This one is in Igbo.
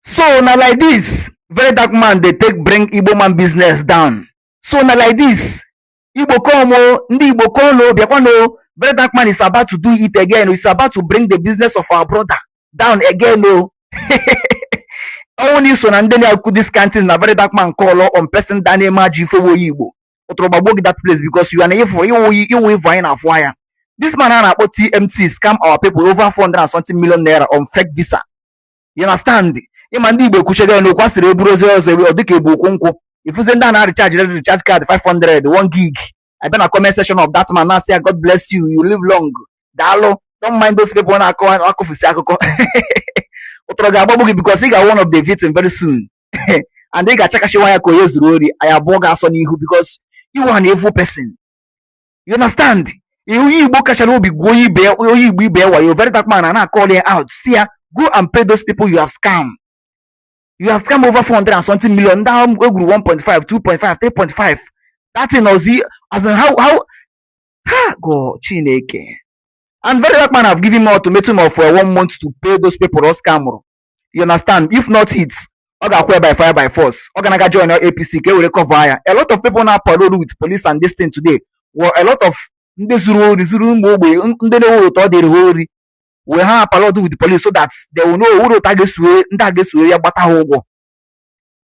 so na like this very dark man dey take bring igbo man business down so na like this igbo come o ndị igbo come o bịakwanụ o very dark man is about to do it again is about to bring the business of our brother down again o ọnwụ na iso na ndị na-akụ this kind thing na very dark man call on person da na-eme ajọ ife woyi igbo ụtụrụ gbagbo gị that place because you are na ịfụ ịwụ ịwụ ịvụ anyị na-afụ anya this man a na-akpọ tmt scam our people over 400 and something million naira on fake visa you understand ịma ndị igbo ekwuchego ya na okwu a sịrị eburu ozu ọzọ ọ dịka ebu ukwu nkụ ị fụzị ndị a na-arịchaji red recharge card 500 1 gig abịa na comment section of that man na-asị ya god bless you you live long daalụ don't mind those people na-akọ akụfusi akụkọ ọtọrọ ga-agbagbu gị because ị ga-awụ one of the victim very soon and ị ga-achakashiwa ya ka onye zuru ori anyị abụọ ga-asọ n'ihu because ị wụ an evil person you understand onye igbo kachara obi gwuo onye ibe onye igbo ibe ya wayo very dark man a na-akọl ya out sị ya go and pay those people you have scam you have scam over 400 and something million ndị ahụ egwuru 1.5 2.5 3.5 that thing ozi as in how how ha god chineke and very dark man have given him ultimatum of uh, one month to pay those people ọ scamụrụ you understand if not it ọ ga-akwụ ya by fire by force ọ ga-aga join apc ka e were cover ya a lot of people na-aparole with police and this thing today were a lot of ndị zuru ori zuru ụmụ ogbenye n- ndị na-enweghị otu ọ dịrị ha ori wee ha parole with police so that they will know o nweghị otu a ga-esuwe ndị a ga-esuwe ya gbata ha ụgwọ